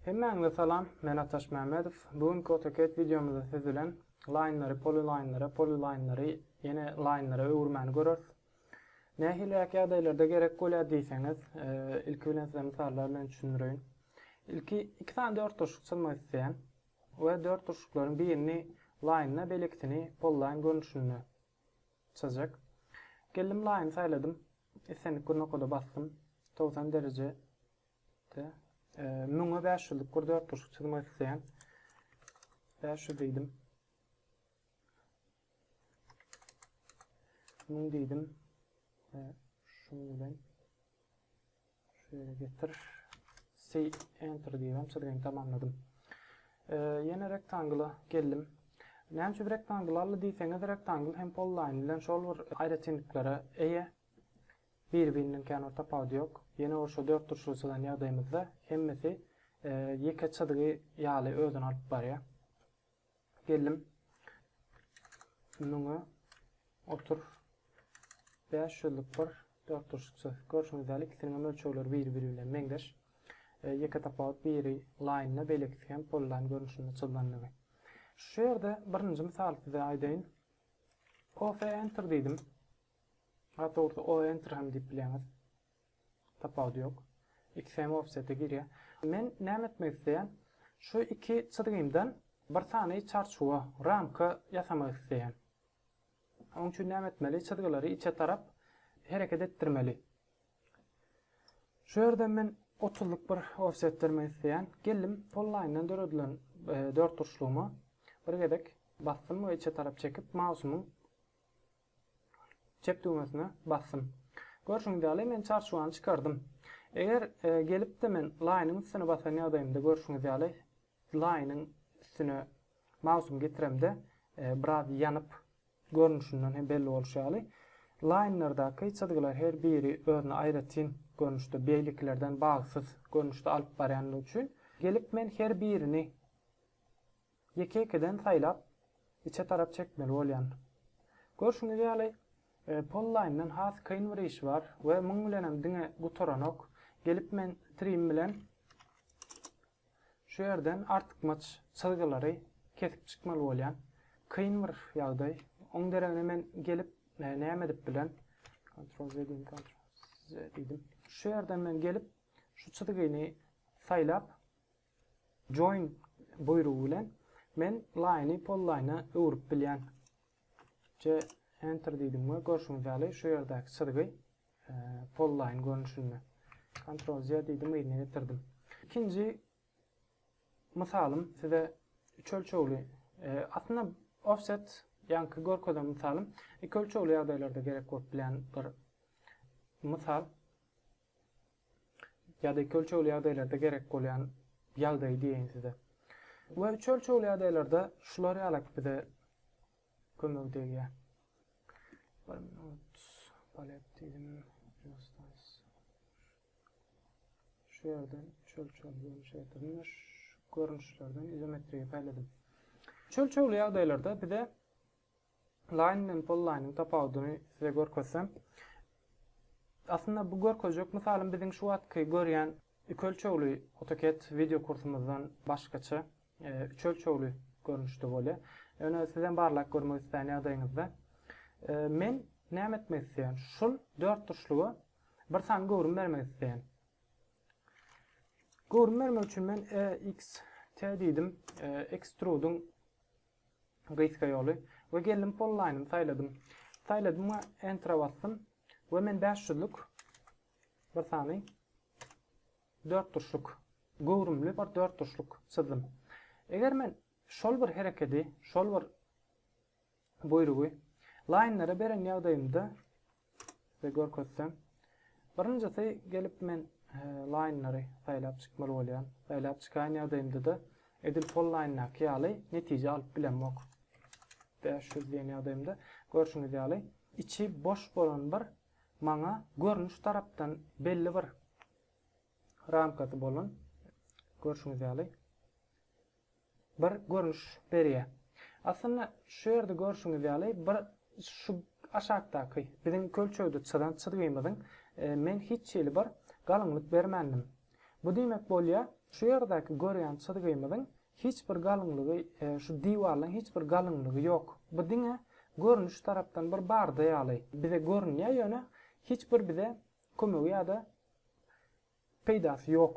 Hemmäňize salam, men Ataş Mämmedow. Bu günki AutoCAD wideomyzda siz bilen laýnlary polilaýnlara, polilaýnlary ýene laýnlara öwürmäni göreris. Nähiliräk ýagdaýlarda gerek bolýar diýseňiz, ilki bilen size mysallar bilen düşündireýin. Ilki iki sany dörtburçluk çyzmak isleýän we dörtburçluklaryň birini laýna, beýlekisini polilaýn görnüşinde çyzjak. Geldim laýyny saýladym. Islendik gurnakoda basdym. Togsan dereje de müňe bäş ýüzlük bir dörtburçluk çyzmak isleýän. Bäş ýüz diýdim. Müň diýdim. Şuň bilen Şeýle getir. Say enter diýibem çyzgyny tamamladym. Ýene rektangla geldim. Näme üçin rektangl aldy diýseňiz, rektangl hem polline bilen şol bir aýratynlyklary eýe. Bir-birinden kän bir tapawudy ýok. Ýene bir şu dört burçly çyzan ýagdaýymyzda hemmesi ýeke çyzgy ýaly özüni alyp barýar. Geldim. Muňa otur. 5 ýyllyk bir dörtburçlukça görşüňiz ýaly ikisiniň hem ölçegleri bir-biri bilen meňzeş. E, ýeke tapawut biri laýynda, beýlekisi hem polylaýn görnüşinde çyzlandygy. Şu ýerde birinji mysaly size aýdaýyn. Coffee enter diýdim. Hatda orta o enter hem diýip bileňiz. Tapawudy ýok. Ikisi hem ofsete girýär. Men näme etmek isleýän? Şu iki çyzgymdan bir sany çarçuwa, ramka ýasamak isleýän. Oň üçin näme etmeli? Çyzgylary içe tarap hereket etdirmeli. Şu ýerden men otuzlyk bir ofset bermek isleýän. Geldim polline-dan döredilen e, dörtburçlugyma bir gezek basdym we içe tarap çekip mausymyň Çep düwmesine basdym. Görşüňiz ýaly, men çarçuwany çykardym. Eger gelip-de men laýynyň üstüne basan ýagdaýymda görşüňiz ýaly, laýynyň üstüne mausum getiremde, biraz ýanyp, görnüşinden hem belli bolşy ýaly, laýynlardaky çyzgylar her biri özüne aýratyn görnüşde, beýlekilerden bagsyz görnüşde alyp barýandygy üçin, gelip men her birini Ýeke-ýekeden saýlap, içe tarap çekmeli bolýan. Görşüňiz ýaly, Polline-dan has kyn bir işi bar we muň bilenem diňe gutaranok. Gelip men trim bilen şu ýerden artykmaç çyzgylary kesip çykmaly bolýan. Kyn bir ýagdaý. Oň deregine men gelip näme edip bilen? Ctrl Z diýin, Ctrl Z diýdim. Şu ýerden men gelip şu çyzgyny saýlap, Join buýrugy bilen men line-y polline-a öwrüp bilýän. J enter diýdim we görşüňiz ýaly şu ýerdäki çyzgy polline görnüşinde. Ctrl Z diýdim yzyna getirdim. Ikinji mysalym size üç ölçegli aslynda offset ýaňky görkezen mysalym iki ölçegli ýagdaýlarda gerek bolup bilýän bir mysal. ýa-da iki ölçegli ýagdaýlarda gerek bolýan ýagdaýy diýeýin size. We üç ölçegli ýagdaýlarda şular ýaly bize kömegi degýär. Bir minut palep diýdim. Şu ýerden üç ölçegli görnüş getirdim. Şu görnüşlerden izometriýa paýladym. Üç ölçegli ýagdaýlarda bize Line bilen polyline-iň tapawudyny size görkezsem. Aslynda bu görkezjek mysalym biziň şu wagtky görýän iki ölçegli AutoCAD wideo kursumyzdan başgaça üç ölçegli görnüşde bolýar. Ýöne siz hem barlap görmek islän ýagdaýyňyzda men näme etmek isleýän? Şul dörtburçluga bir sany göwrüm bermek isleýän. Göwrüm bermek üçin men EXT diýdim. Extrude-iň Gysga ýoly we geldim polline-yny saýladym. Saýladym we enter-a basdym we men bäş ýüzlük bir sany dörtburçluk göwrümli bir dörtburçluk çyzdym. Eger men şol bir herekedi, şol bir buýrugy laýnlara beren ýagdaýymda Size görkezsem. Birinjisi gelip men laýnlary saýlap çykmaly bolýan. Saýlap çykan ýagdaýymda-da edil sol laýndaky ýaly netije alyp bilemok. Bäş ýüz diýen ýagdaýymda görşüňiz ýaly içi boş bolan bir maňa görnüş tarapdan belli bir ramkasy bolan görşüňiz ýaly bir görnüş berýär. Aslynda şu ýerde görşüňiz ýaly bir şu aşakdaky biziň kölçegde çyzan çyzgymyzyň men hiç hili bir galyňlyk bermändim. Bu diýmek bolýar şu ýerdäki görýän çyzgymyzyň hiç bir galyňlygy şu diwarlaň hiç bir galyňlygy ýok. Bu diňe görnüş tarapdan bir barda ýaly bize görünýär ýöne hiç bir bize kömegi ýa-da peýdasy ýok.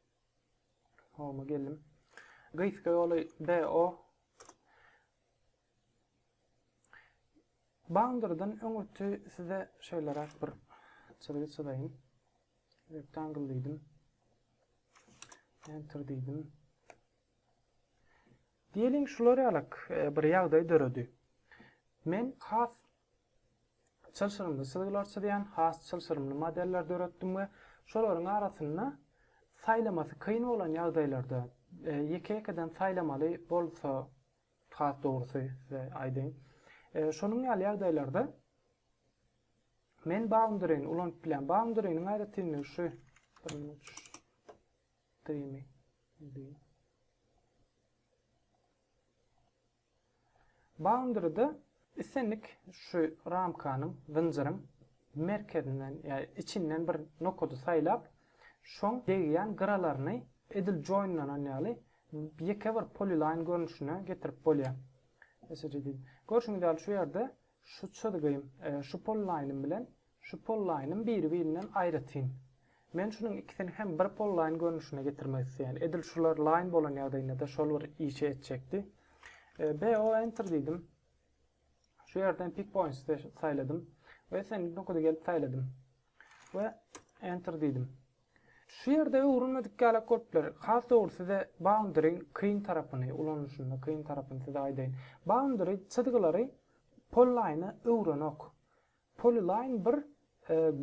Home geldim. Gysga ýoly BO. Boundarydan öň öti size şeýle rak bir çyzgy çyzaýyn. Rectangle diýdim. Enter diýdim. Diýeliň şular ýalak e, bir ýagdaý döredi. Men has çylşyrymly çyzgylar çyzýan has çylşyrymly modeller döretdim we şolaryň arasynda saýlamasy kyn bolan ýagdaýlarda ýeke-ýekeden saýlamaly bolsa has dogrusy size aýdaýyn şonuň ýaly ýagdaýlarda men boundary-ni ulanyp bilýän boundary-niň aýratynlygy şu Boundary-da islendik şu ramkanyň, zynjyryň merkezinden ýa içinden bir nokady saýlap, şoň degýän gyralaryny edil joinlanan ýaly ýeke bir polyline görnüşine getirip bolýar. Görşüňiz ýaly şu ýerde şu çyzgym, şu polyline-ym bilen Şu pollaýnym biri-birinden aýratyn. Men şunuň ikisini hem bir pollaýn görnüşine getirmek isleýän. Edil şular laýn bolan ýagdaýynda-da şol bir işi etjekdi. BO Enter diýdim. Şu ýerden Pick Points-y saýladym we Send Nokudy gelip saýladym we Enter diýdim. Şu ýerde öwrenmedik ýalak bolup biler. Has dogry size Boundary-iň kyn tarapyny, ulanylyşynda kyn tarapyny size aýdaýyn. Boundary çyzgylary pollaýna öwrenok. Polyline bir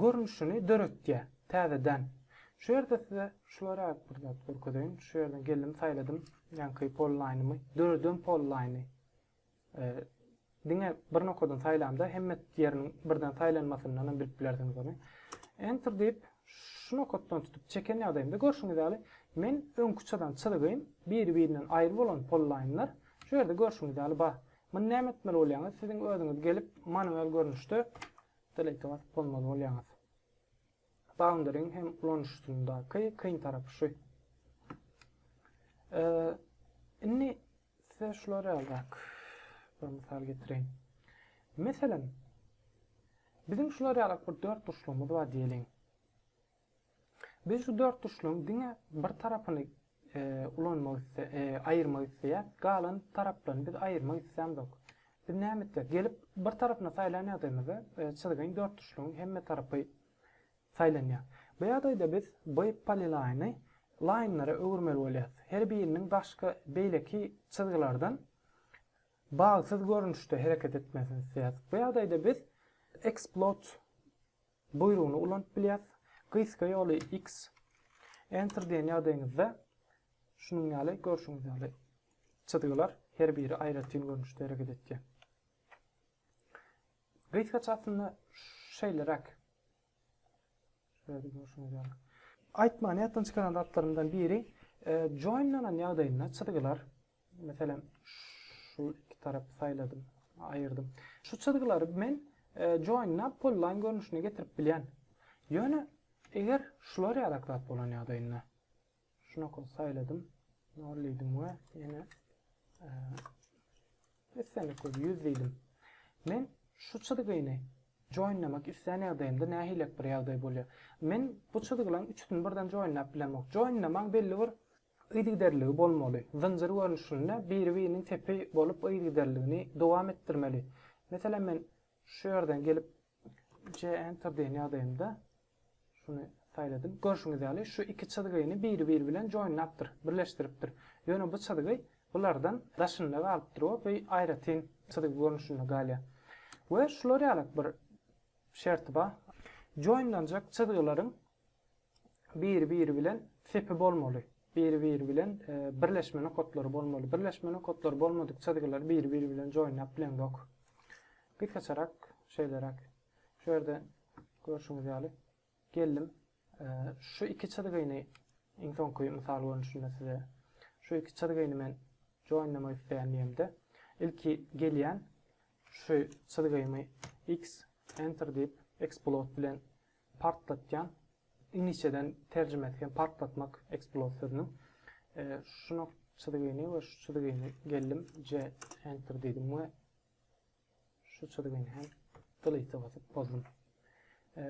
görnüşini döretýär täzeden. Şu ýerde size şulara bir zat görkezeýin. Şu ýerden geldim saýladym ýaňky polyline-ymy. Döreden polyline-y. Diňe bir nokadan saýlamda hemme ýeriniň birden saýlanmasyndan hem bilip bilersiňiz ony. Enter diýip şu nokatdan tutup çeken ýagdaýymda görşüňiz ýaly men öňki çyzan çyzygym biri-birinden aýry bolan polyline-lar şu ýerde görşüňiz ýaly bar. Muny näme etmeli bolýaňyz? Siziň özüňiz gelip manual görnüşde delete basyp bolmaly bolýaňyz. Boundary-iň hem ulanyşysyndaky kyn tarapy şu. Indi size şular ýalyrak bir mysal getireýin. Meselem, biziň şular ýalyrak bir dört burçlugymyz bar diýeliň. Biz şu dörtburçlygyň diňe bir tarapyny ulanmak aýyrmak isleýäs, galan taraplaryny biz aýyrmak islämzok. Biz näme etjek? Gelip bir tarapyny saýlan ýagdaýymyzda çyzgyn dörtburçlygyň hemme tarapy saýlanýar. Bu ýagdaýda biz bu polilaýny laýnlara öwürmeli bolýarys. Her biriniň daşky beýleki çyzgylardan bagsyz görnüşde hereket etmesini isleýäris. Bu ýagdaýda biz Explode Buýrugyny ulanyp bilýäs. Gysga ýoly X. Enter diýen ýagdaýyňyzda şunuň ýaly görşüňiz ýaly çyzgylar her biri aýratyn görnüşde hereket etýär. Gysgaça aslynda şeýleräk. Şeýle görşüňiz ýaly. Aýtmagyny ýatdan çykaran zatlarymdan biri, e, join-lanan ýagdaýynda çyzgylar Meselem, şu iki tarapy saýladym, aýyrdym. Şu çyzgylary men join-a polline görnüşine getirip bilýän. Ýöne eger şular ýalak zat bolan ýagdaýynda şu nokat saýladym, nol diýdim we ýene islendik köp 100 diýdim. Men şu çyzgyny joinlemek islän ýagdaýymda nähilek bir ýagdaý bolýar. Men bu çyzgylaryň üçüsini birden joinläp bilemok. Joinlemäň belli bir yzygiderligi bolmaly, zynjyr görnüşinde biri-biriniň tepi bolup yzygiderligini dowam etdirmeli. Meselem, men şu ýerden gelip C Enter diýen ýagdaýymda şuny saýladym. Görşüňiz ýaly, şu iki çyzgyny biri-biri bilen joinlapdyr, birleşdiripdir. Ýöne bu çyzgy bulardan daşynda galypdyr we bu aýratyn çyzgy görnüşinde galýar. We şular ýalak bir şerti bar. Joinlenjek çyzgylaryň biri-biri bilen sepi bolmaly, biri-biri bilen birleşme nokatlary bolmaly, birleşme nokatlary bolmadyk çyzgylar biri-biri bilen joýnap bileňzok. Gysgaçarak şeýleräk. Şu ýerde görşüňiz ýaly geldim. Şu iki çyzgyny iň soňky mysal görnüşinde size şu iki çyzgyny men joýnlamak isleýän diýemde, ilki gelýän şu çyzgymy x enter diýip explode bilen Partlatýan, iňlisçeden terjimesi hem partlatmak, explode sözüniň. Şu nok çyzgyny we şu çyzgyny geldim C enter diýdim we şu çyzgyny hem delete basyp bozdum.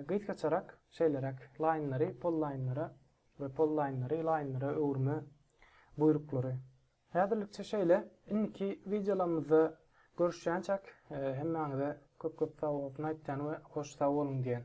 Gysgaçarak şeýleräk laýnlary pollaýnlara we pollaýnlary laýnlara öwürme buýruklary. Häzirlikçe şeýle. Indiki wideolarymyzda görüşýänçäk hemmäňize köp-köp sag bolsun aýtýan we hoş sag boluň diýen.